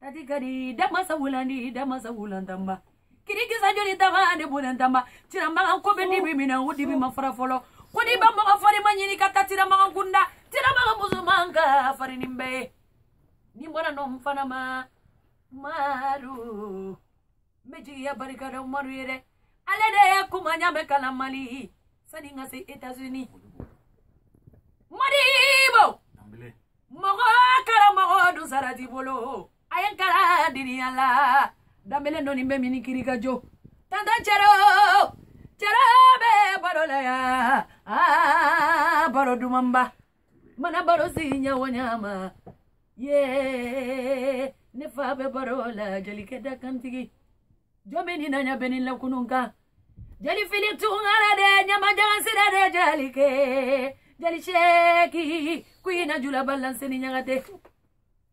Tati kadi damansa wulandi damansa wulantamba. Kirikisa joli tama de bulantamba. Tiramagan ko bɛ dibi min na o dibi ma fara fɔlɔ. Ko n'i ba mɔgɔ farima ɲini ka taa tiramagan kunda. Tiramagan musoman ka fari nin bɛɛ ye. Ni bɔra nɔ n fana ma. Maru. n bɛ jigiya barika da umaru ye dɛ ale de ye kuma ɲa bɛ kalan mali sani n ka se etazini modibo mɔgɔ karamɔgɔ dun sara t'i bolo a ye n karan diniya la danbele nɔni bɛ mini kiri ka jo tantan cɛro cɛro bɛ baro la ya aa baro dumanba mana baro si ɲɛwo ɲama ye ne fa bɛ baro la jalikɛ da kantigi jɔn bɛ nin naɲa bɛ ni lakunun kan jali fili tungara de ɲamajagan sira de jalikɛ jali seeki kuyina julaba lanseni ɲagate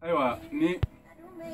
ayiwa ni